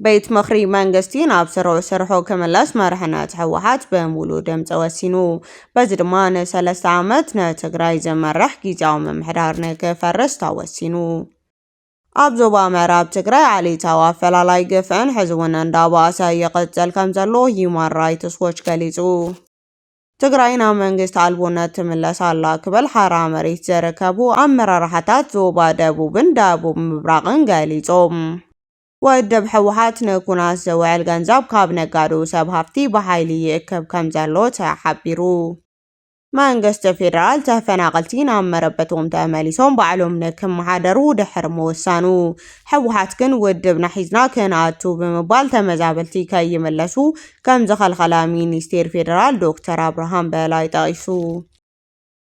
ቤት ምኽሪ መንግስቲ ናብ ስርዑ ስርሑ ክምለስ መርሕነት ህወሓት በሙሉእ ድምፂ ወሲኑ። በዚ ድማ ንሰለስተ ዓመት ንትግራይ ዝመርሕ ጊዜያዊ ምምሕዳር ንክፈርስ ተወሲኑ። ኣብ ዞባ ምዕራብ ትግራይ ዓሌታዊ ኣፈላላይ ግፍዕን ሕዚ እውን እንዳባእሰ ይቕፅል ከም ዘሎ ሂዩማን ራይትስ ዎች ገሊፁ። ትግራይ ናብ መንግስቲ ኣልቦነት ትምለስ ኣላ ክበል ሓራ መሬት ዘረከቡ ኣመራርሓታት ዞባ ደቡብን ደቡብ ምብራቕን ገሊፆም። ወድብ ሕወሓት ንኩናት ዝውዕል ገንዘብ ካብ ነጋዶ ሰብ ሃፍቲ ብሓይሊ ይእክብ ከምዘሎ ተሓቢሩ። መንግስቲ ፌደራል ተፈናቐልቲ ናብ መረበቶም ተመሊሶም ባዕሎም ንክመሓደሩ ድሕሪ ምውሳኑ ሕወሓት ግን ውድብና ሒዝና ክንኣቱ ብምባል ተመዛበልቲ ከይምለሱ ከም ዝኸልኸላ ሚኒስቴር ፌደራል ዶክተር ኣብርሃም በላይ ጠቒሱ።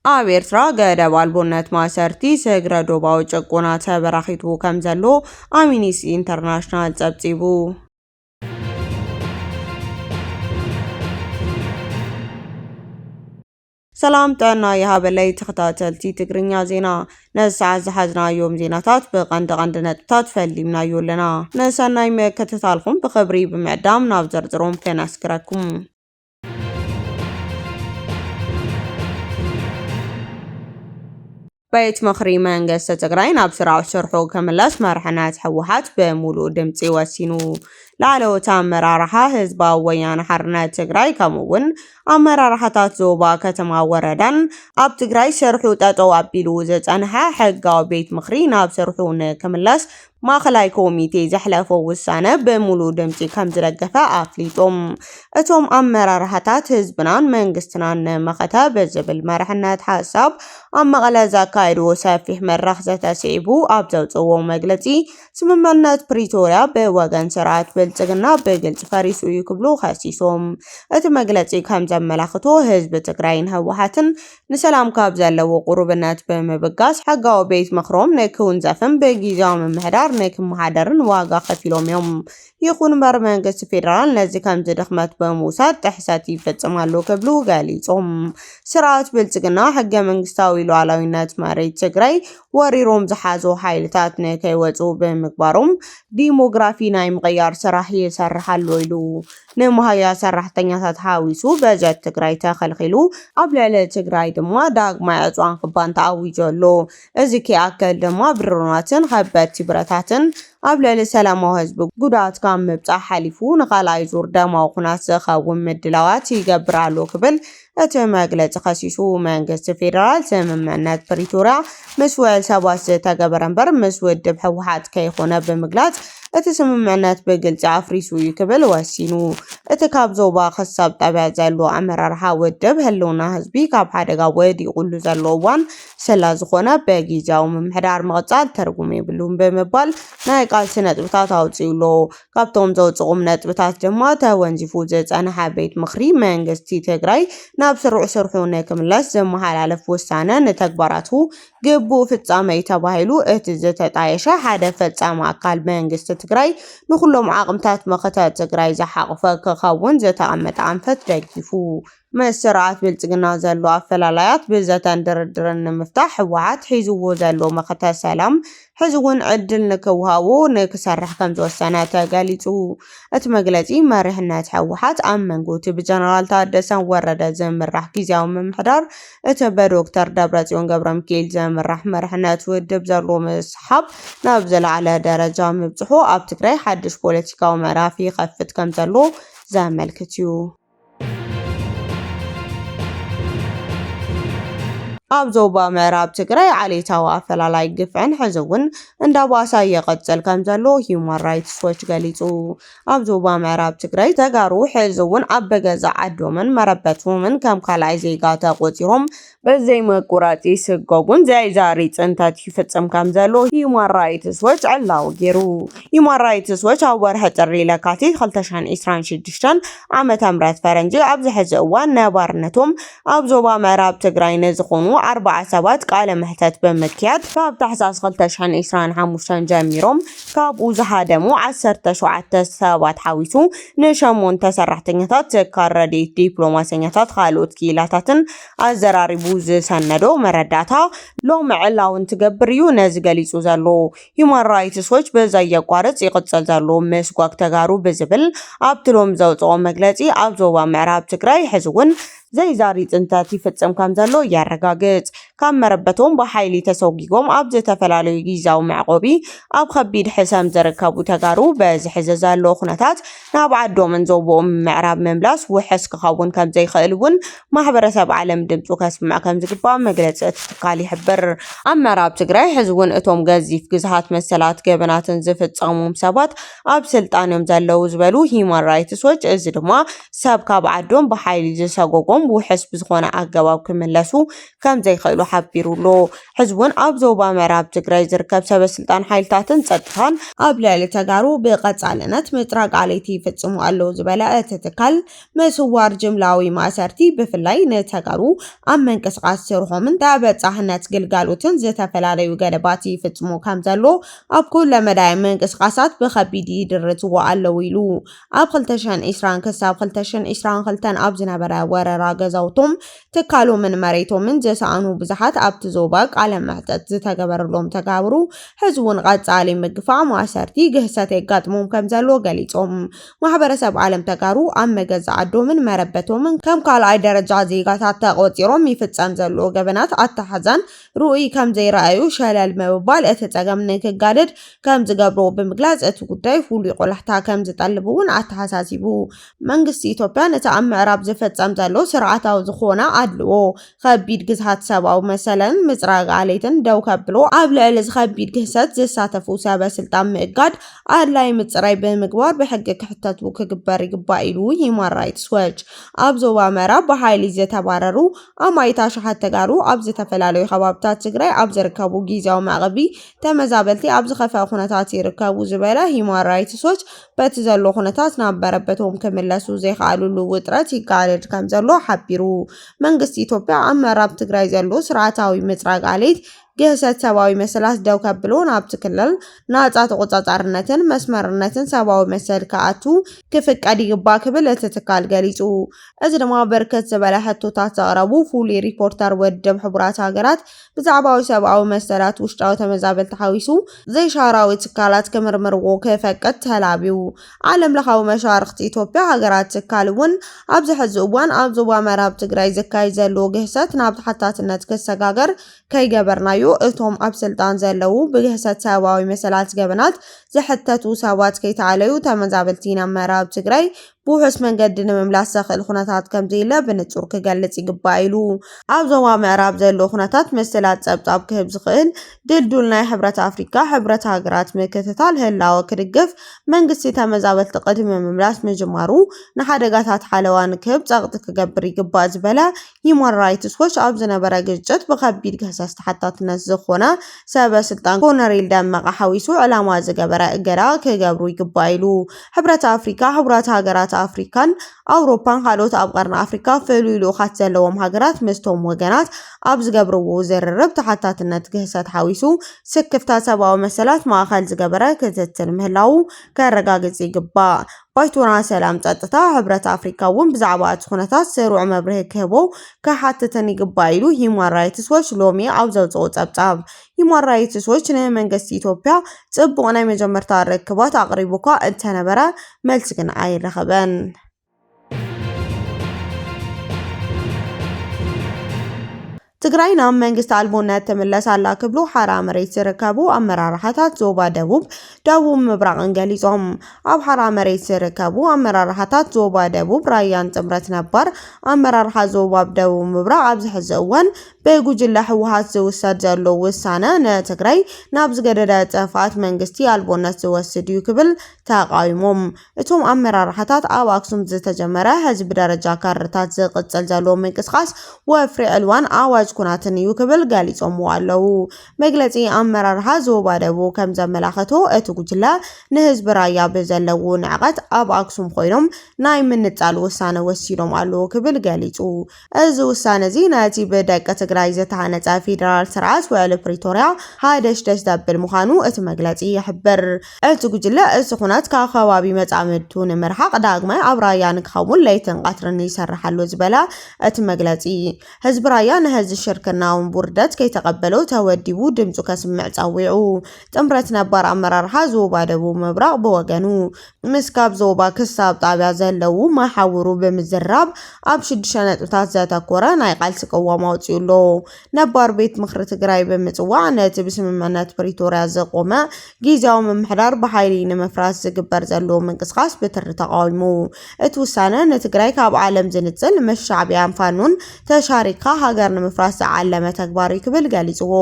ኣብ ኤርትራ ገደብ ኣልቦነት ማእሰርቲ ስግረ ዶባዊ ጭቆና ተበራኺቱ ከም ዘሎ ኣሚኒስቲ ኢንተርናሽናል ጸብጺቡ። ሰላም ጥዕና ይሃበለይ ተኸታተልቲ ትግርኛ ዜና ነዚ ሰዓት ዝሓዝናዮም ዜናታት ብቐንዲ ቐንዲ ነጥብታት ፈሊምናዮ ኣለና። ንሰናይ ምክትታልኩም ብኽብሪ ብምዕዳም ናብ ዝርዝሮም ከነስግረኩም። ቤት ምኽሪ መንግስቲ ትግራይ ናብ ስራዕ ስርሑ ክምለስ መርሕነት ህወሓት ብሙሉእ ድምፂ ወሲኑ። ላዕለዎት ኣመራርሓ ህዝባዊ ወያነ ሓርነት ትግራይ ከምኡ እውን ኣመራርሓታት ዞባ ከተማ ወረዳን ኣብ ትግራይ ስርሑ ጠጠው ኣቢሉ ዝፀንሐ ሕጋዊ ቤት ምኽሪ ናብ ስርሑ ንክምለስ ማእኸላይ ኮሚቴ ዘሕለፎ ውሳነ ብሙሉእ ድምፂ ከምዝደገፈ ኣፍሊጡ። እቶም ኣመራርሓታት ህዝብናን መንግስትናን ንመኸተ ብዝብል መርሕነት ሓሳብ ኣብ መቐለ ዘካየድዎ ሰፊሕ መድረኽ ዘተ ስዒቡ ኣብ ዘውፅእዎ መግለፂ ስምምዕነት ፕሪቶርያ ብወገን ስርዓት ብልፅግና ብግልፂ ፈሪሱ እዩ ክብሉ ከሲሶም። እቲ መግለፂ ከምዘመላኽቶ ህዝቢ ትግራይን ህወሓትን ንሰላም ካብ ዘለዎ ቁሩብነት ብምብጋስ ሕጋዊ ቤት ምኽሮም ንክውንዘፍን ብጊዚያዊ ምምሕዳር ንክመሓደርን ዋጋ ከፊሎም እዮም። ይኹን እምበር መንግስቲ ፌደራል ነዚ ከምዚ ድኽመት ብምውሳድ ጥሕሰት ይፍጽም ኣሎ ክብሉ ገሊጾም። ስርዓት ብልጽግና ሕገ መንግስታዊ ሉዓላዊነት መሬት ትግራይ ወሪሮም ዝሓዙ ሓይልታት ንከይወጹ ብምግባሮም ዲሞግራፊ ናይ ምቕያር ስራሕ ይሰርሕ ኣሎ ኢሉ። ንመሃያ ሰራሕተኛታት ሓዊሱ በጀት ትግራይ ተኸልኺሉ፣ ኣብ ልዕሊ ትግራይ ድማ ዳግማይ ዕፅዋን ክባን ተኣዊጁ ኣሎ። እዚ ከይኣክል ድማ ብድሮናትን ኸበድቲ ብረታትን ኣብ ልዕሊ ሰላማዊ ህዝቢ ጉድኣት ካብ ምብፃሕ ሓሊፉ ንኻልኣይ ዙር ደማዊ ኹናት ዝኸውን ምድላዋት ይገብር ኣሎ ክብል እቲ መግለፂ ከሲሱ። መንግስቲ ፌደራል ስምምዕነት ፕሪቶርያ ምስ ውዕል ሰባት ዝተገበረ እምበር ምስ ውድብ ህወሓት ከይኾነ ብምግላፅ እቲ ስምምዕነት ብግልፂ ኣፍሪሱ እዩ ክብል ወሲኑ። እቲ ካብ ዞባ ክሳብ ጣብያ ዘሎ ኣመራርሓ ውድብ ህልውና ህዝቢ ካብ ሓደጋ ወዲቑሉ ዘሎ እዋን ስለዝኾነ ብጊዚያዊ ምምሕዳር ምቕፃል ትርጉም የብሉን ብምባል ናይ ቃልሲ ነጥብታት ኣውፂኡ ኣሎ። ካብቶም ዘውፅእኹም ነጥብታት ድማ ተወንዚፉ ዝፀንሐ ቤት ምኽሪ መንግስቲ ትግራይ ናብ ስሩዕ ስርሑ ንክምለስ ዘመሓላለፍ ውሳነ ንተግባራቱ ግቡእ ፍፃመ እዩ ተባሂሉ እቲ ዝተጣየሸ ሓደ ፈፃሚ ኣካል መንግስቲ ትግራይ ንኩሎም ዓቕምታት መኸተ ትግራይ ዝሓቑፈ ክኸውን ዝተቐመጠ ኣንፈት ደጊፉ ምስ ስርዓት ብልፅግና ዘሎ ኣፈላላያት ብዘተን ድርድርን ንምፍታሕ ህወሓት ሒዝዎ ዘሎ መኸተ ሰላም ሕዚ እውን ዕድል ንክውሃቦ ንክሰርሕ ከምዝወሰነ ተገሊፁ። እቲ መግለፂ መሪሕነት ህወሓት ኣብ መንጎ እቲ ብጀነራል ታደሰ ወረደ ዝምራሕ ጊዜያዊ ምምሕዳር እቲ ብዶክተር ደብረፅዮን ገብረሚካኤል ዝምራሕ መሪሕነት ውድብ ዘሎ ምስሓብ ናብ ዝለዓለ ደረጃ ምብፅሑ ኣብ ትግራይ ሓድሽ ፖለቲካዊ ምዕራፍ ይኸፍት ከምዘሎ ዘመልክት እዩ። ኣብ ዞባ ምዕራብ ትግራይ ዓሌታዊ ኣፈላላይ ግፍዕን ሕዚ እውን እንዳባሳ ይቕፅል ከም ዘሎ ሂዩማን ራይትስ ዎች ገሊፁ። ኣብ ዞባ ምዕራብ ትግራይ ተጋሩ ሕዚ እውን ኣብ በገዛ ዓዶምን መረበቶምን ከም ካልኣይ ዜጋ ተቖፂሮም በዘይ መቁራፅ ይስጎጉን ዘያይዛሪ ፅንተት ይፍፅም ከምዘሎ ሂዩማን ራይትስ ዎች ዕላዊ ገይሩ። ሂዩማን ራይትስ ዎች ኣብ ወርሒ ጥሪ ለካቲት 2026 ዓመተ ምህረት ፈረንጂ ኣብዚ ሕዚ እዋን ነባርነቶም ኣብ ዞባ ምዕራብ ትግራይ ንዝኾኑ ኣርባዓ ሰባት ቃለ መሕተት ብምክያድ ካብ ታሕሳስ 2025 ጀሚሮም ካብኡ ዝሃደሙ 17 ሰባት ሓዊሱ ንሸሞንተ ሰራሕተኛታት ትካል ረድኤት ዲፕሎማሰኛታት ካልኦት ክኢላታትን ኣዘራሪቡ ዝሰነዶ መረዳእታ ሎሚ ዕላዊ እንትገብር እዩ ነዚ ገሊጹ ዘሎ። ሂዩማን ራይትስ ዎች ብዘየቋርጽ ይቕጽል ዘሎ ምስጓግ ተጋሩ ብዝብል ኣብቲ ሎሚ ዘውጽኦ መግለጺ ኣብ ዞባ ምዕራብ ትግራይ ሕዚ'ውን ዘይዛሪ ጽንተት ይፍጽም ከምዘሎ የረጋግጽ። ካብ መረበቶም ብሓይሊ ተሰጒጎም ኣብ ዝተፈላለዩ ጊዚያዊ መዕቆቢ ኣብ ከቢድ ሕሰም ዝርከቡ ተጋሩ በዚ ሕዚ ዘሎ ኩነታት ናብ ዓዶምን ዞቦኦምን ምዕራብ ምምላስ ውሕስ ክኸውን ከምዘይክእል እውን ማሕበረሰብ ዓለም ድምፁ ከስምዕ ከምዝግባእ መግለፂ እቲ ትካል ይሕብር። ኣብ ምዕራብ ትግራይ ሕዚ እውን እቶም ገዚፍ ግዝሃት መሰላት ገበናትን ዝፍፀሙም ሰባት ኣብ ስልጣን እዮም ዘለዉ ዝበሉ ሂዩማን ራይትስ ዎች እዚ ድማ ሰብ ካብ ዓዶም ብሓይሊ ዝሰጎጎም ውሕስ ብዝኾነ ኣገባብ ክምለሱ ከምዘይኽእሉ ሓቢሩ'ሎ። ሕዚ'ውን ኣብ ዞባ ምዕራብ ትግራይ ዝርከብ ሰበስልጣን ሓይልታትን ፀጥታን፣ ኣብ ልዕሊ ተጋሩ ብቐፃልነት ምፅራግ ኣለይቲ ይፍፅሙ ኣለው ዝበለ እቲ ትካል፣ ምስዋር፣ ጅምላዊ ማእሰርቲ፣ ብፍላይ ንተጋሩ ኣብ ምንቅስቓስ ስርሖምን ተበፃሕነት ግልጋሎትን ዝተፈላለዩ ገደባት ይፍፅሙ ከምዘሎ ኣብ ኩለመዳያዊ ምንቅስቓሳት ብኸቢድ ይድርትዎ ኣለው ኢሉ። ኣብ ክልተ ሽሕን ዒስራን ክሳብ ክልተ ሽሕን ዒስራን ክልተን ኣብ ዝነበረ ወረራ ገዛውቶም ትካሎምን መሬቶምን ዘሰኣኑ ብዙሓት ኣብቲ ዞባ ቃለ መሕተት ዝተገበረሎም ተጋብሩ ሕዝውን ቐፃሊ ምግፋዕ ማእሰርቲ ግህሰት የጋጥሞም ከምዘሎ ገሊፆም። ማሕበረሰብ ዓለም ተጋሩ ኣብ መገዛ ዓዶምን መረበቶምን ከም ካልኣይ ደረጃ ዜጋታት ተቖፂሮም ይፍፀም ዘሎ ገበናት ኣተሓሕዛን ርኡይ ከምዘይረኣዩ ሸለል ምብባል እቲ ፀገም ንክጋደድ ከምዝገብሮ ብምግላፅ እቲ ጉዳይ ፍሉይ ቆላሕታ ከምዝጠልብውን ኣተሓሳሲቡ። መንግስቲ ኢትዮጵያ ነቲ ኣብ ምዕራብ ዝፍጸም ዘሎ ስርዓታዊ ዝኾነ ኣድልዎ፣ ኸቢድ ግዝሃት ሰብኣዊ መሰልን ምጽራግ ዓሌትን ደው ከብሎ፣ ኣብ ልዕሊ እዚ ኸቢድ ግህሰት ዝሳተፉ ሰበ ስልጣን ምእጋድ፣ ኣድላዪ ምጽራይ ብምግባር ብሕጊ ክሕተቱ ክግበር ይግባእ ኢሉ ሂዩማን ራይትስ ዎች። ኣብ ዞባ ምዕራብ ብሓይሊ ዝተባረሩ ኣማኢት ኣሽሓት ተጋሩ ኣብ ዝተፈላለዩ ኸባብታት ትግራይ ኣብ ዝርከቡ ጊዚያዊ መዕቘቢ ተመዛበልቲ ኣብ ዝኸፍኣ ኩነታት ይርከቡ ዝበለ ሂዩማን ራይትስ ዎች፣ በቲ ዘሎ ኩነታት ናብ መረበቶም ክምለሱ ዘይክኣልሉ ውጥረት ይጋደድ ከምዘሎ ሓቢሩ። መንግስቲ ኢትዮጵያ ኣብ ምዕራብ ትግራይ ዘሎ ስርዓታዊ ምፅራግ ዓሌት ግህሰት ሰብኣዊ መሰላት ደው ከብሎ ናብቲ ክልል ናፃ ተቖፃፃርነትን መስመርነትን ሰብኣዊ መሰል ክኣቱ ክፍቀድ ይግባእ ክብል እቲ ትካል ገሊፁ። እዚ ድማ ብርክት ዝበለ ሕቶታት ዘቕረቡ ፍሉይ ሪፖርተር ውድብ ሕቡራት ሃገራት ብዛዕባዊ ሰብኣዊ መሰላት ውሽጣዊ ተመዛበልቲ ሓዊሱ ዘይሻራዊ ትካላት ክምርምርዎ ክፈቅድ ተላብዩ። ዓለምለኻዊ መሻርኽቲ ኢትዮጵያ ሃገራት ትካል እውን ኣብዚ ሕዚ እዋን ኣብ ዞባ መራብ ትግራይ ዝካየድ ዘሎ ግህሰት ናብ ተሓታትነት ክሰጋገር ከይገበርናዮ እቶም ኣብ ስልጣን ዘለው ብግህሰት ሰብኣዊ መሰላት ገበናት ዝሕተቱ ሰባት ከይተኣለዩ ተመዛበልቲ ናብ መራብ ትግራይ ብውሑስ መንገዲ ንምምላስ ዘኽእል ኩነታት ከምዘየለ ብንፁር ክገልፅ ይግባእ ኢሉ። ኣብ ዞባ ምዕራብ ዘሎ ኩነታት መሰላት ፀብፃብ ክህብ ዝኽእል ድልዱል ናይ ሕብረት ኣፍሪካ፣ ሕብረት ሃገራት ምክትታል ህላወ ክድግፍ መንግስቲ ተመዛበልቲ ቅድሚ ምምላስ ምጅማሩ ንሓደጋታት ሓለዋ ንክህብ ፀቕጢ ክገብር ይግባእ ዝበለ ሂዩማን ራይትስ ዎች ኣብ ዝነበረ ግጭት ብኸቢድ ገህሰስ ተሓታትነት ዝኾና ሰበ ስልጣን ኮነሬል ደመቀ ሓዊሱ ዕላማ ዝገበረ እገዳ ክገብሩ ይግባእ ኢሉ። ሕብረት ኣፍሪካ፣ ሕቡራት ሃገራት ኣፍሪካን ኣውሮፓን ካልኦት ኣብ ቀርኒ ኣፍሪካ ፍሉይ ልኡኻት ዘለዎም ሃገራት ምስቶም ወገናት ኣብ ዝገብርዎ ዝርርብ ተሓታትነት ግህሰት ሓዊሱ ስክፍታ ሰብኣዊ መሰላት ማእኸል ዝገበረ ክትትል ምህላዉ ከረጋግፅ ይግባእ ባይቶና ሰላም ፀጥታ ሕብረት ኣፍሪካ እውን ብዛዕባ እቲ ኩነታት ሰሩዕ መብርሂ ክህቦ ክሓትትን ይግባእ ኢሉ ሂዩማን ራይትስ ዎች ሎሚ ኣብ ዘውፅኦ ፀብፃብ። ሂዩማን ራይትስ ዎች ንመንገስቲ ኢትዮጵያ ፅቡቕ ናይ መጀመርታ ርክባት ኣቕሪቡ እኳ እንተነበረ መልሲ ግን ኣይረኸበን። ትግራይ ናብ መንግስቲ ኣልቦነት ትምለስ ኣላ ክብሉ ሓራ መሬት ዝርከቡ ኣመራርሓታት ዞባ ደቡብ፣ ደቡብ ምብራቕን ገሊፆም። ኣብ ሓራ መሬት ዝርከቡ ኣመራርሓታት ዞባ ደቡብ ራያን ጥምረት ነባር ኣመራርሓ ዞባብ ደቡብ ምብራቕ ኣብዚ ሕዚ እዋን ብጉጅለ ህወሓት ዝውሰድ ዘሎ ውሳነ ንትግራይ ናብ ዝገደደ ጥፍኣት መንግስቲ ኣልቦነት ዝወስድ እዩ ክብል ተቓዊሞም። እቶም ኣመራርሓታት ኣብ ኣክሱም ዝተጀመረ ሕዚ ብደረጃ ካድረታት ዝቕፅል ዘለዎ ምንቅስቓስ ወፍሪ ዕልዋን ኣዋጅ ኩናትን እዩ ክብል ገሊፆምዎ ኣለው። መግለፂ ኣመራርሓ ዞባ ደቡብ ከምዘመላኸቶ እቲ ጉጅለ ንህዝቢ ራያ ብዘለውዎ ንዕቐት ኣብ ኣክሱም ኾይኖም ናይ ምንፃል ውሳነ ወሲዶም ኣለው ክብል ገሊፁ። እዚ ውሳነ'ዚ ነቲ ብደቂ ትግራይ ዝተሃነፀ ፌደራል ስርዓት ውዕሊ ፕሪቶርያ ሃደሽደሽ ዘብል ምዃኑ እቲ መግለፂ ይሕብር። እቲ ጉጅለ እቲ ኵናት ካብ ከባቢ መፃምድቱ ንምርሓቕ ዳግማይ ኣብ ራያ ንክኸውን ለይትን ቐትርን ይሰርሕ ኣሎ ዝበለ እቲ መግለፂ፣ ህዝቢ ራያ ነህዚ ሽርክናውን ውርደት ከይተቐበሎ ተወዲቡ ድምፁ ከስምዕ ፀዊዑ። ጥምረት ነባር ኣመራርሓ ዞባ ደቡብ ምብራቕ ብወገኑ፣ ምስ ካብ ዞባ ክሳብ ጣብያ ዘለዉ መሓውሩ ብምዝራብ ኣብ ሽዱሽተ ነጥብታት ዘተኮረ ናይ ቃልሲ ቅዋም ኣውፂኡ ኣሎ። ነባር ቤት ምኽሪ ትግራይ ብምፅዋዕ ነቲ ብስምምዕነት ፕሪቶርያ ዝቖመ ጊዚያዊ ምምሕዳር ብሓይሊ ንምፍራስ ዝግበር ዘሎ ምንቅስቓስ ብትሪ ተቓዊሙ። እቲ ውሳነ ንትግራይ ካብ ዓለም ዝንፅል፣ ምስ ሻዕቢያን ፋኖን ተሻሪኽካ ሃገር ንምፍራስ ዝዓለመ ተግባር እዩ ክብል ገሊፅዎ።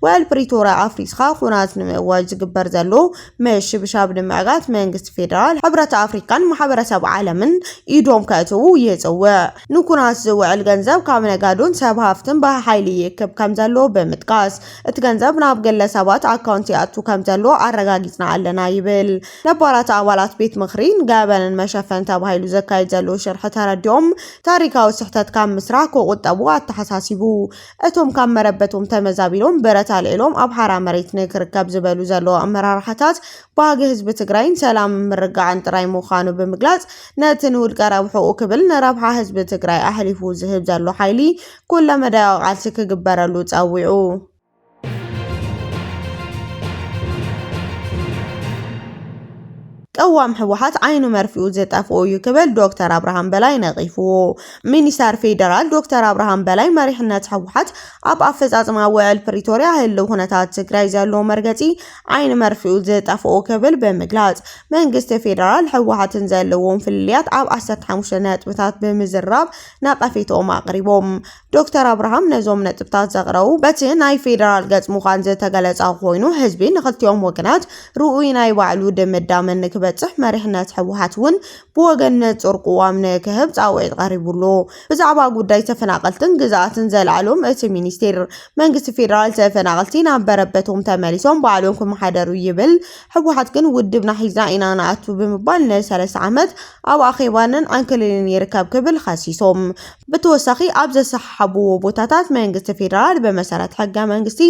ውዕል ፕሪቶርያ ኣፍሪስካ ኹናት ንምእዋጅ ዝግበር ዘሎ ምሽብሻብ ንምዕጋት መንግስቲ ፌደራል፣ ሕብረት ኣፍሪካን ማሕበረሰብ ዓለምን ኢዶም ከእትዉ ይፅውዕ። ንኩናት ዝውዕል ገንዘብ ካብ ነጋዶን ሰብ ሃፍትን ብሓይሊ ይእክብ ከምዘሎ ብምጥቃስ፣ እቲ ገንዘብ ናብ ግለሰባት ኣካውንት ይኣቱ ከምዘሎ ኣረጋጊፅና ኣለና ይብል። ነባራት ኣባላት ቤት ምኽሪ ንገበንን መሸፈኒ ተባሂሉ ዝካየድ ዘሎ ሽርሒ ተረዲኦም ታሪካዊ ስሕተት ካብ ምስራሕ ክቑጠቡ ኣተሓሳሲቡ። እቶም ካብ መረበቶም ተመዛቢሎም ብረት ኣልዒሎም ኣብ ሓራ መሬት ንክርከብ ዝበሉ ዘለዉ ኣመራርሓታት ባህጊ ህዝቢ ትግራይን ሰላምን ምርጋዕን ጥራይ ምዃኑ ብምግላፅ ነቲ ንውልቀ ረብሕኡ ክብል ንረብሓ ህዝቢ ትግራይ ኣሕሊፉ ዝህብ ዘሎ ሓይሊ ኩለመዳያዊ ቃልሲ ክግበረሉ ፀዊዑ። ቅዋም ህወሓት ዓይኑ መርፍኡ ዝጠፍኦ እዩ ክብል ዶክተር ኣብርሃም በላይ ነቒፍዎ። ሚኒስተር ፌደራል ዶክተር ኣብርሃም በላይ መሪሕነት ህወሓት ኣብ ኣፈፃፅማ ውዕል ፕሪቶርያ ህልው ኩነታት ትግራይ ዘለዎ መርገፂ ዓይኒ መርፍኡ ዝጠፍኦ ክብል ብምግላፅ መንግስቲ ፌደራል ህወሓትን ዘለዎም ፍልልያት ኣብ ዓሰርተ ሓሙሽተ ነጥብታት ብምዝራብ ነቐፌትኦም ኣቕሪቦም። ዶክተር ኣብርሃም ነዞም ነጥብታት ዘቕረቡ በቲ ናይ ፌደራል ገጽ ምዃን ዝተገለጸ ኮይኑ ህዝቢ ንኽልቲኦም ወገናት ርኡይ ናይ ባዕሉ ድምዳመ ንክበጽሕ መሪሕነት ህወሓት እውን ብወገን ንጹር ቅዋም ንክህብ ጻውዒት ቀሪቡሉ። ብዛዕባ ጉዳይ ተፈናቐልትን ግዝኣትን ዘልዓሎም እቲ ሚኒስቴር፣ መንግስቲ ፌደራል ተፈናቐልቲ ናብ በረበቶም ተመሊሶም ባዕሎም ክመሓደሩ ይብል ህወሓት ግን ውድብና ሒዝና ኢና ንኣቱ ብምባል ንሰለስተ ዓመት ኣብ ኣኼባንን ዕንክሊልን ይርከብ ክብል ኸሲሱ። ብተወሳኺ ኣብ ዘሰሓሓብዎ ቦታታት መንግስቲ ፌደራል ብመሰረት ሕገ መንግስቲ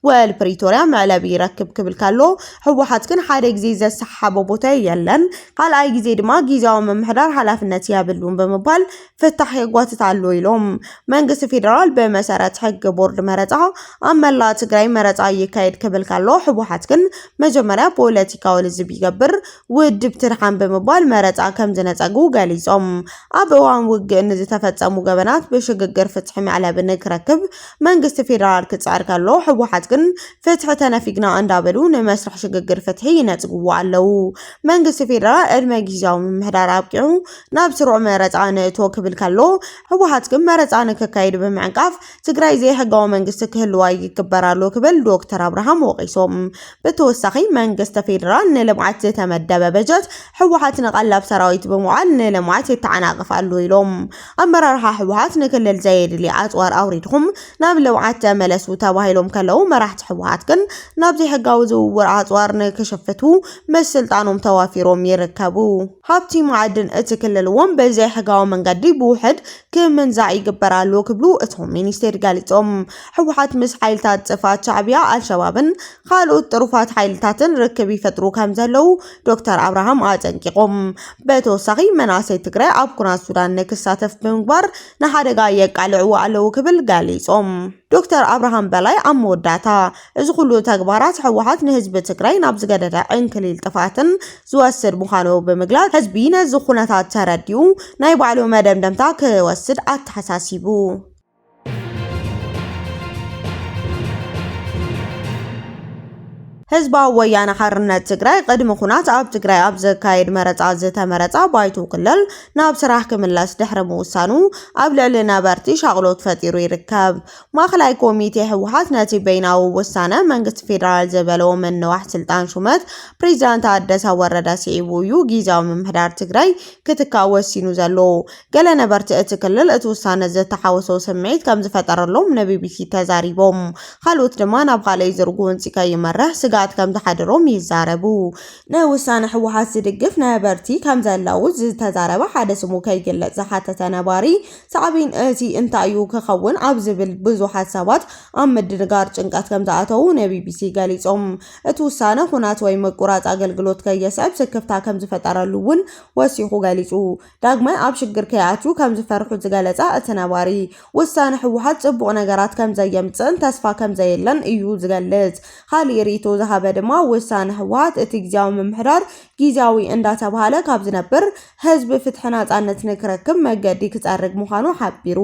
ውዕል ፕሪቶርያ መዕለቢ ይረክብ ክብል ከሎ ህወሓት ግን ሓደ ግዜ ዘሰሓሓቦ ቦታ የለን ካልኣይ ግዜ ድማ ጊዜያዊ ምምሕዳር ሓላፍነት የብሉን ብምባል ፍታሕ የጓትት ኣሎ ኢሎም። መንግስቲ ፌዴራል ብመሰረት ሕጊ ቦርድ መረፃ ኣብ መላእ ትግራይ መረፃ ይካየድ ክብል ከሎ ህወሓት ግን መጀመርያ ፖለቲካዊ ልዝብ ይገብር ውድብ ትድሓን ብምባል መረፃ ከምዝነፀጉ ገሊፆም። ኣብ እዋን ውግእ ንዝተፈፀሙ ገበናት ብሽግግር ፍትሒ መዕለቢ ንክረክብ መንግስቲ ፌዴራል ክፅዕር ከሎ ህወሓት ግን ፍትሒ ተነፊግና እንዳበሉ ንመስርሕ ሽግግር ፍትሒ ይነፅጉዎ ኣለው። መንግስቲ ፌዴራል ዕድመ ጊዚያዊ ምምሕዳር ኣብቂዑ ናብ ስሩዕ መረፃ ንእቶ ክብል ከሎ ህወሓት ግን መረፃ ንክካየድ ብምዕንቃፍ ትግራይ ዘይሕጋዊ መንግስቲ ክህልዋ ይግበር ኣሎ ክብል ዶክተር ኣብርሃም ወቒሶም። ብተወሳኺ መንግስቲ ፌዴራል ንልምዓት ዝተመደበ በጀት ህወሓት ንቐለብ ሰራዊት ብምውዓል ንልምዓት የተዓናቕፍ ኣሎ ኢሎም። ኣመራርሓ ህወሓት ንክልል ዘየድሊ ኣፅዋር ኣውሪድኹም ናብ ልምዓት ተመለሱ ተባሂሎም ከለው መራሕቲ ህወሓት ግን ናብ ዘይሕጋዊ ዝውውር ኣፅዋር ንክሽፍቱ ምስ ስልጣኖም ተዋፊሮም ይርከቡ። ሃብቲ መዓድን እቲ ክልል እውን ብዘይሕጋዊ መንገዲ ብውሕድ ክምንዛዕ ይግበር ኣሎ ክብሉ እቶም ሚኒስቴር ገሊፆም። ህወሓት ምስ ሓይልታት ጥፍኣት ሻዕቢያ፣ ኣልሸባብን ካልኦት ጥሩፋት ሓይልታትን ርክብ ይፈጥሩ ከምዘለዉ ዶክተር ኣብርሃም ኣጠንቂቖም። ብተወሳኺ መናእሰይ ትግራይ ኣብ ኩናት ሱዳን ንክሳተፍ ብምግባር ንሓደጋ የቃልዕዎ ኣለዉ ክብል ገሊፆም። ዶክተር ኣብርሃም በላይ ኣብ መወዳእታ እዚ ኩሉ ተግባራት ህወሓት ንህዝቢ ትግራይ ናብ ዝገደደ ዕንክሊል ጥፍኣትን ዝወስድ ምዃኑ ብምግላፅ ህዝቢ ነዚ ኩነታት ተረዲኡ ናይ ባዕሉ መደምደምታ ክወስድ ኣተሓሳሲቡ። ህዝባዊ ወያነ ሓርነት ትግራይ ቅድሚ ኩናት ኣብ ትግራይ ኣብ ዝካየድ መረፃ ዝተመረፃ ባይቶ ክልል ናብ ስራሕ ክምለስ ድሕሪ ምውሳኑ ኣብ ልዕሊ ነበርቲ ሻቕሎት ፈጢሩ ይርከብ። ማእኸላይ ኮሚቴ ህወሓት ነቲ በይናዊ ውሳነ መንግስቲ ፌደራል ዝበለዎ ምንዋሕ ስልጣን ሹመት ፕሬዚዳንት ታደሰ ወረደ ስዒቡ እዩ ጊዚያዊ ምምሕዳር ትግራይ ክትካእ ወሲኑ ዘሎ። ገለ ነበርቲ እቲ ክልል እቲ ውሳነ ዝተሓወሶ ስምዒት ከምዝፈጠረሎም ንቢቢሲ ተዛሪቦም። ካልኦት ድማ ናብ ኻልኣይ ዙር ጎንፂ ከይመርሕ ስግኣት ከምዝሓደሮም ይዛረቡ። ንውሳነ ህወሓት ዝድግፍ ነበርቲ ከምዘለዉ ዝተዛረበ ሓደ ስሙ ከይግለፅ ዝሓተተ ነባሪ ሳዕቤን እዚ እንታይ'ዩ ክኸውን ኣብ ዝብል ብዙሓት ሰባት ኣብ ምድንጋር ጭንቀት ከምዝኣተዉ ንቢቢሲ ገሊጾም። እቲ ውሳነ ኹናት ወይ ምቁራጽ ኣገልግሎት ከየስዕብ ስክፍታ ከምዝፈጠረሉ እውን ወሲኹ ገሊጹ። ዳግማይ ኣብ ሽግር ከይኣትዩ ከምዝፈርሑ ዝገለጸ እቲ ነባሪ፣ ውሳነ ህወሓት ጽቡቕ ነገራት ከምዘየምጽእን ተስፋ ከምዘየለን እዩ ዝገልጽ። ካልእ ርእይቶ ዝሃበ ድማ ውሳነ ህወሓት እቲ ግዝያዊ ምምሕዳር ጊዚያዊ እንዳተብሃለ ካብ ዝነብር ህዝቢ ፍትሒ ናፃነት ንክረክብ መገዲ ክፀርግ ምዃኑ ሓቢሩ።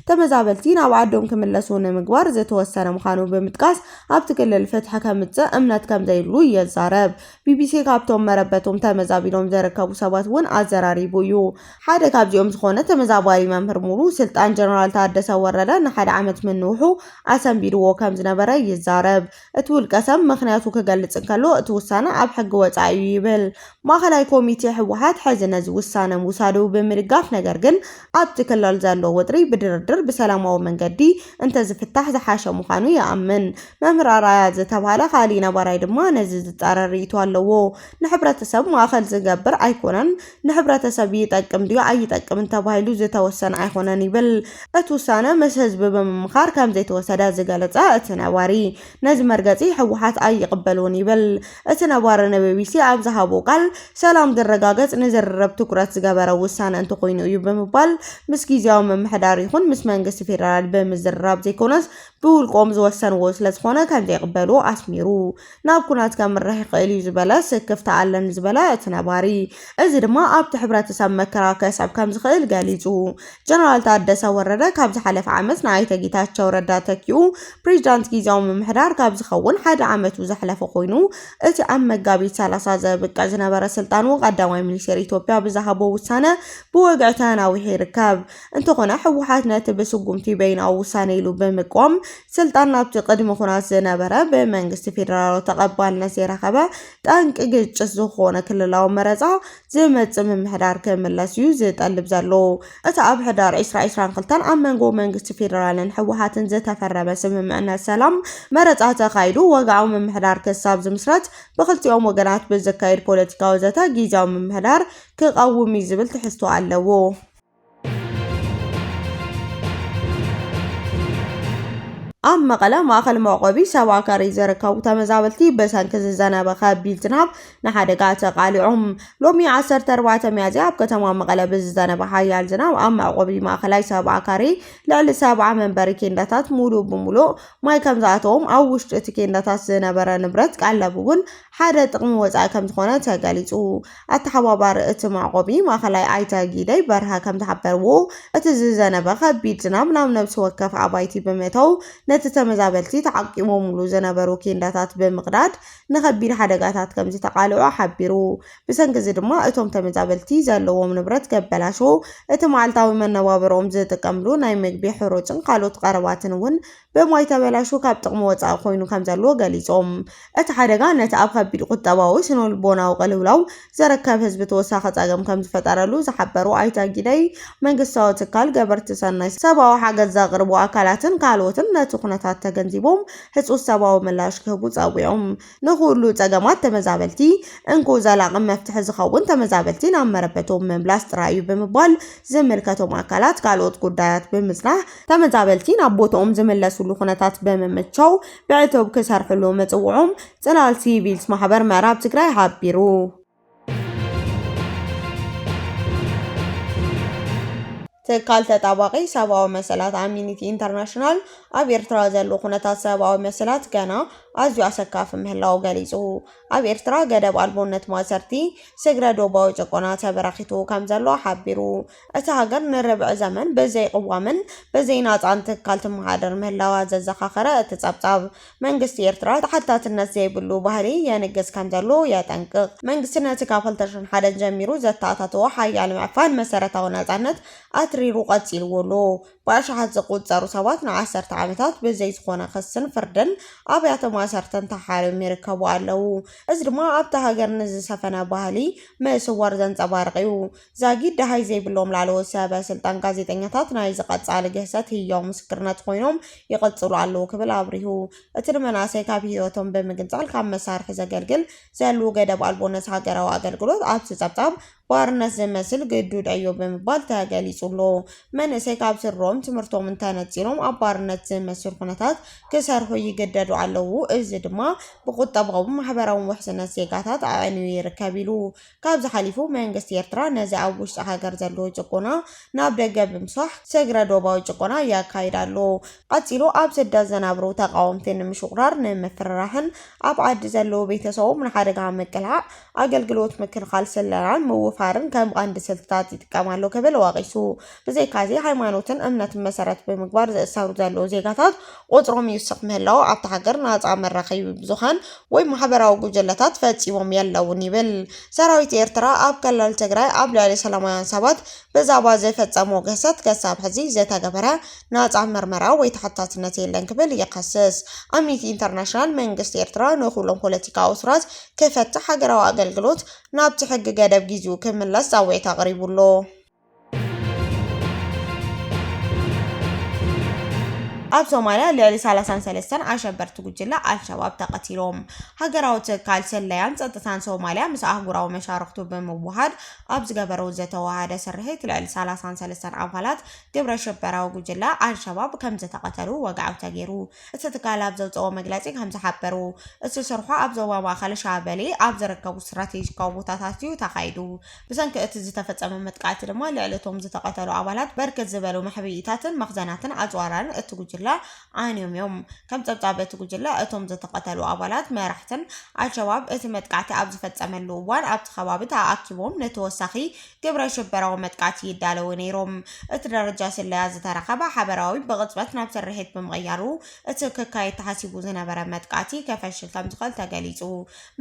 ተመዛበልቲ ናብ ዓዶም ክምለሱ ንምግባር ዝተወሰነ ምዃኑ ብምጥቃስ ኣብቲ ክልል ፍትሒ ከምፅእ እምነት ከምዘይብሉ የዛረብ። ቢቢሲ ካብቶም መረበቶም ተመዛቢሎም ዘረከቡ ሰባት እውን ኣዘራሪቡ እዩ። ሓደ ካብዚኦም ዝኾነ ተመዛባሊ መምህር ሙሉ ስልጣን ጀነራል ታደሰ ወረደ ንሓደ ዓመት ምንውሑ ኣሰንቢድዎ ከምዝነበረ ይዛረብ። እቲ ውልቀሰብ ምኽንያቱ ክገልፅ እንከሎ እቲ ውሳነ ኣብ ሕጊ ወፃኢ እዩ ይብል። ማእኸላይ ኮሚቴ ህወሓት ሕዚ ነዚ ውሳነ ምውሳዱ ብምድጋፍ ነገር ግን ኣብቲ ክልል ዘሎ ወጥሪ ብድርድር ብሰላማዊ መንገዲ እንተዝፍታሕ ዝሓሸ ምዃኑ ይኣምን። መምህር ኣርኣያ ዝተብሃለ ካሊእ ነባራይ ድማ ነዚ ዝፃረር ርኢቶ ኣለዎ። ንሕብረተሰብ ማእኸል ዝገብር ኣይኮነን። ንሕብረተሰብ ይጠቅም ድዩ ኣይጠቅምን ተባሂሉ ዝተወሰነ ኣይኮነን ይብል። እቲ ውሳነ ምስ ህዝቢ ብምምኻር ከምዘይተወሰደ ዝገለፀ እቲ ነባሪ፣ ነዚ መርገፂ ህወሓት ኣይቕበልዎን ይብል። እቲ ነባሪ ንቢቢሲ ኣብ ዝሃቦ ቃል፣ ሰላም ዝረጋገፅ ንዝርርብ ትኩረት ዝገበረ ውሳነ እንተኾይኑ እዩ ብምባል ምስ ጊዚያዊ ምምሕዳር ይኹን ምስ መንግስቲ ፌደራል ብምዝርራብ ዘይኮነስ ብውልቆም ዝወሰንዎ ስለዝኾነ ከምዘይቕበሉ ኣስሚሩ። ናብ ኩናት ከምርሕ ይኽእል እዩ ዝበለ ስክፍታ ኣለን ዝበለ እቲ ነባሪ፣ እዚ ድማ ኣብቲ ሕብረተሰብ መከራ ከስዕብ ከምዝኽእል ገሊፁ። ጀነራል ታደሰ ወረደ ካብ ዝሓለፈ ዓመት ንኣይተ ጌታቸው ረዳ ተኪኡ ፕሬዚዳንት ጊዚያዊ ምምሕዳር ካብ ዝኸውን ሓደ ዓመቱ ዘሕለፈ ኮይኑ እቲ ኣብ መጋቢት ሰላሳ ዘብቅዕ ዝነበረ ስልጣኑ ቀዳማይ ሚኒስቴር ኢትዮጵያ ብዝሃቦ ውሳነ ብወግዒ ተናዊሑ ይርከብ። እንተኾነ ህወሓት ነቲ ብስጉምቲ በይናዊ ውሳነ ኢሉ ብምቅዋም ስልጣን ናብቲ ቅድሚ ኩናት ዝነበረ ብመንግስቲ ፌደራላዊ ተቐባልነት ዘይረኸበ ጠንቂ ግጭት ዝኾነ ክልላዊ መረፃ ዝመፅእ ምምሕዳር ክምለስ እዩ ዝጠልብ ዘሎ። እቲ ኣብ ሕዳር ዕስራ ዕስራን ክልተን ኣብ መንጎ መንግስቲ ፌደራልን ህወሓትን ዝተፈረመ ስምምዕነት ሰላም መረፃ ተኻይዱ ወግዓዊ ምምሕዳር ክሳብ ዝምስረት ብክልቲኦም ወገናት ብዝካየድ ፖለቲካዊ ዘተ ጊዚያዊ ምምሕዳር ክቐውም እዩ ዝብል ትሕዝቶ ኣለዎ። ኣብ መቐለ ማእኸል መዕቆቢ ሰባከሪ ዝርከቡ ተመዛበልቲ ብሰንኪ ዝዘነበ ከቢድ ዝናብ ንሓደጋ ተቓሊዖም። ሎሚ 14 ሚያዝያ ኣብ ከተማ መቐለ ብዝዘነበ ሓያል ዝናብ ኣብ መዕቆቢ ማእኸላይ ሰባከሪ ልዕሊ ሰብዓ መንበሪ ኬንዳታት ሙሉእ ብሙሉእ ማይ ከም ዝኣተዎም ኣብ ውሽጢ እቲ ኬንዳታት ዝነበረ ንብረት ቀለብ እውን ሓደ ጥቕሚ ወፃኢ ከም ዝኾነ ተገሊፁ። ኣተሓባባሪ እቲ መዕቆቢ ማእኸላይ ኣይተ ጊደይ በርሀ ከምዝሓበርዎ እቲ ዝዘነበ ከቢድ ዝናብ ናብ ነብሲ ወከፍ ኣባይቲ ብምእታው ነቲ ተመዛበልቲ ተዓቂቦምሉ ዝነበሩ ኬንዳታት ብምቕዳድ ንከቢድ ሓደጋታት ከምዝተቓልዑ ሓቢሩ። ብሰንኪ እዚ ድማ እቶም ተመዛበልቲ ዘለዎም ንብረት ገበላሾ፣ እቲ መዓልታዊ መነባብርኦም ዝጥቀምሉ ናይ ምግቢ፣ ሕሩጭን ካልኦት ቐረባትን እውን ብማይ ተበላሽዩ ካብ ጥቕሚ ወጻኢ ኮይኑ ከምዘሎ ገሊጾም፣ እቲ ሓደጋ ነቲ ኣብ ከቢድ ቁጠባዊ፣ ስነልቦናዊ ቅልውላው ዝርከብ ህዝቢ ተወሳኺ ጸገም ከምዝፈጠረሉ ዝሓበሩ ኣይተ ጊደይ፣ መንግስታዊ ትካል፣ ገበርቲ ሰናይ፣ ሰብኣዊ ሓገዝ ዘቕርቡ ኣካላትን ካልኦትን ነቲ ኩነታት ተገንዚቦም ህጹጽ ሰብኣዊ ምላሽ ክህቡ ጸዊዖም። ንኹሉ ፀገማት ተመዛበልቲ እንኮ ዘላቒ መፍትሒ ዝኸውን ተመዛበልቲ ናብ መረበቶም ምምላስ ጥራይ እዩ ብምባል ዝምልከቶም ኣካላት ካልኦት ጉዳያት ብምፅናሕ ተመዛበልቲ ናብ ቦትኦም ዝምለስሉ ኩነታት ብምምቻው ብዕቱብ ክሰርሕሉ ምፅውዖም ፅላል ሲቪልስ ማሕበር ምዕራብ ትግራይ ሓቢሩ። ትካል ተጣባቒ ሰብኣዊ መሰላት ኣሚኒቲ ኢንተርናሽናል ኣብ ኤርትራ ዘሎ ኩነታት ሰብኣዊ መሰላት ገና ኣዝዩ ኣሰካፊ ምህላው ገሊጹ። ኣብ ኤርትራ ገደብ ኣልቦነት ማእሰርቲ፣ ስግረ ዶባዊ ጭቆና ተበራኺቱ ከምዘሎ ሓቢሩ። እታ ሃገር ንርብዒ ዘመን ብዘይ ቅዋምን ብዘይ ናጻን ትካል ትመሓደር ምህላዋ ዘዘኻኸረ እቲ ጸብጻብ፣ መንግስቲ ኤርትራ ተሓታትነት ዘይብሉ ባህሊ የንግስ ከምዘሎ የጠንቅቕ። መንግስቲ ነቲ ካብ ክልተ ሽሕን ሓደን ጀሚሩ ዘተኣታተዎ ሓያል ምዕፋን መሰረታዊ ናጻነት ኣትሪሩ ቀጺልዎ ኣሎ። ብኣሽሓት ዝቑጸሩ ሰባት ንዓሰርተ ዓመታት ብዘይ ዝኾነ ክስን ፍርድን ኣብያተ ማእሰርትን ተሓርዮም ይርከቡ ኣለዉ። እዚ ድማ ኣብታ ሃገር ንዝሰፈነ ባህሊ ምስዋር ዘንጸባርቕ'ዩ። ዛጊድ ደሃይ ዘይብሎም ላዕለዎት ሰበ ስልጣን ጋዜጠኛታት ናይዚ ቀጻሊ ግህሰት ህያው ምስክርነት ኮይኖም ይቕጽሉ ኣለዉ ክብል ኣብሪሁ። እቲ ንመናእሰይ ካብ ህይወቶም ብምግንጻል ካብ መሳርሒ ዘገልግል ዘሉ ገደብ ኣልቦነት ሃገራዊ ኣገልግሎት ኣብዚ ጸብጻብ ባርነት ዝመስል ግዱድ ዕዮ ብምባል ተገሊጹ ኣሎ። መንእሰይ ካብ ስድርኦም ትምህርቶምን ተነጺሎም ኣብ ባርነት ዝመስል ኩነታት ክሰርሑ ይግደዱ ኣለዉ፣ እዚ ድማ ብቁጠባውን ማሕበራውን ውሕስነት ዜጋታት ኣዕንዩ ይርከብ ኢሉ። ካብዚ ሓሊፉ መንግስቲ ኤርትራ ነዚ ኣብ ውሽጢ ሃገር ዘሎ ጭቆና ናብ ደገ ብምስፋሕ ስግረ ዶባዊ ጭቆና የካይድ ኣሎ። ቀጺሉ ኣብ ስደት ዝነብሩ ተቓወምቲ ንምሽቑራር፣ ንምፍርራሕን ኣብ ዓዲ ዘለዉ ቤተሰቦም ንሓደጋ ምቅላዕ፣ ኣገልግሎት ምክልኻል ስለላን ምውፋርን ከም ቀንዲ ስልትታት ይጥቀም ኣሎ ክብል ወቒሱ። ብዘይካዚ ሃይማኖትን እምነትን መሰረት ብምግባር ዝእሰሩ ዘለዉ ዜጋታት ቁጽሮም ይውስኽ ምህላዉ ኣብታ ሃገር ናጻ መራኸቢ ብዙሃን ወይ ማሕበራዊ ጉጅለታት ፈጺሞም የለዉን ይብል። ሰራዊት ኤርትራ ኣብ ክልል ትግራይ ኣብ ልዕሊ ሰላማውያን ሰባት ብዛዕባ ዝፈጸሞ ግህሰት ክሳብ ሕዚ ዝተገበረ ናጻ ምርመራ ወይ ተሓታትነት የለን ክብል ይኸስስ። ኣምኒቲ ኢንተርናሽናል መንግስቲ ኤርትራ ንኹሎም ፖለቲካዊ እሱራት ክፈትሕ፣ ሃገራዊ ኣገልግሎት ናብቲ ሕጊ ገደብ ጊዚኡ ክምለስ ጻውዒት ኣቕሪቡ ኣሎ። ኣብ ሶማልያ ልዕሊ 33 ኣሸበርቲ ጉጅለ ኣልሸባብ ተቐቲሎም። ሃገራዊ ትካል ስለያን ጸጥታን ሶማልያ ምስ ኣህጉራዊ መሻርኽቱ ብምውሃድ ኣብ ዝገበረው ዝተዋሃደ ስርሒት ልዕሊ 33 ኣባላት ግብረ ሽበራዊ ጉጅለ ኣልሸባብ ከም ዝተቐተሉ ወግዓዊ ተገይሩ። እቲ ትካል ኣብ ዘውጽኦ መግለጺ ከም ዝሓበሩ እቲ ስርሖ ኣብ ዞባ ማእከል ሻበሌ ኣብ ዝርከቡ ስትራቴጂካዊ ቦታታት እዩ ተኻይዱ። ብሰንኪ እቲ ዝተፈጸመ መጥቃዕቲ ድማ ልዕሊ እቶም ዝተቐተሉ ኣባላት በርክት ዝበሉ መሕብኢታትን መኽዘናትን ኣጽዋራን እቲ ጉጅለ ዓንዮም እዮም። ከም ጸብጻብ እቲ ጉጅለ፣ እቶም ዝተቐተሉ ኣባላት መራሕትን ኣልሸባብ እቲ መጥቃዕቲ ኣብ ዝፈጸመሉ እዋን ኣብቲ ከባቢ ተኣኣኪቦም ንተወሳኺ ግብረ ሽበራዊ መጥቃዕቲ ይዳለዉ ነይሮም። እቲ ደረጃ ስለያ ዝተረከበ ሓበራዊ ብቕጽበት ናብ ስርሒት ብምቕያሩ እቲ ክካየድ ተሓሲቡ ዝነበረ መጥቃዕቲ ከፈሽል ከምዝኽእል ተገሊጹ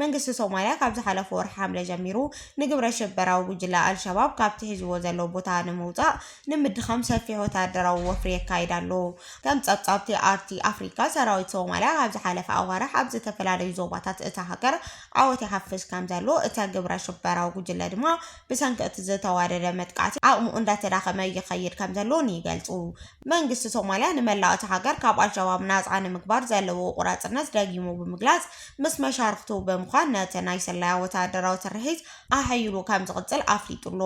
መንግስቲ ሶማልያ ካብ ዝሓለፈ ወርሒ ሓምለ ጀሚሩ ንግብረ ሽበራዊ ጉጅለ ኣልሸባብ ካብቲ ሒዝዎ ዘሎ ቦታ ንምውጻእ ንምድኻም ሰፊሕ ወተሃደራዊ ወፍሪ የካይድ ኣሎ። ከም ጸብጻብ'ቲ ኣርቲ ኣፍሪካ፣ ሰራዊት ሶማልያ ኣብ ዝሓለፈ ኣዋርሕ ኣብ ዝተፈላለዩ ዞባታት እታ ሃገር ዓወት ይሓፍስ ከምዘሎ፣ እተ ግብረ ሽበራዊ ጉጅለ ድማ ብሰንኪ እቲ ዝተዋደደ መጥቃዕቲ ዓቕሙ እንዳተዳኸመ ይኸይድ ከምዘሎን ይገልጹ። መንግስቲ ሶማልያ ንመላእ እታ ሃገር ካብ ኣልሸባብ ናጻ ንምግባር ዘለዎ ቁራጽነት ደጊሙ ብምግላጽ፣ ምስ መሻርኽቱ ብምዃን ነቲ ናይ ስለያ ወተሃደራዊ ስርሒት ኣሐይሉ ከም ዝቕጽል ኣፍሊጡ ኣሎ።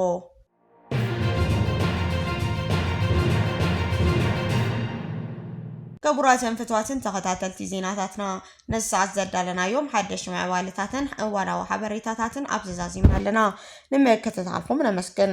ክቡራትን ፍትዋትን ተኸታተልቲ ዜናታትና ነዚ ሰዓት ዘዳለናዮም ሓደሽ ምዕባለታትን እዋናዊ ሓበሬታታትን ኣብዚ ዛዚምና ኣለና። ንምክትታልኩም ነመስግን።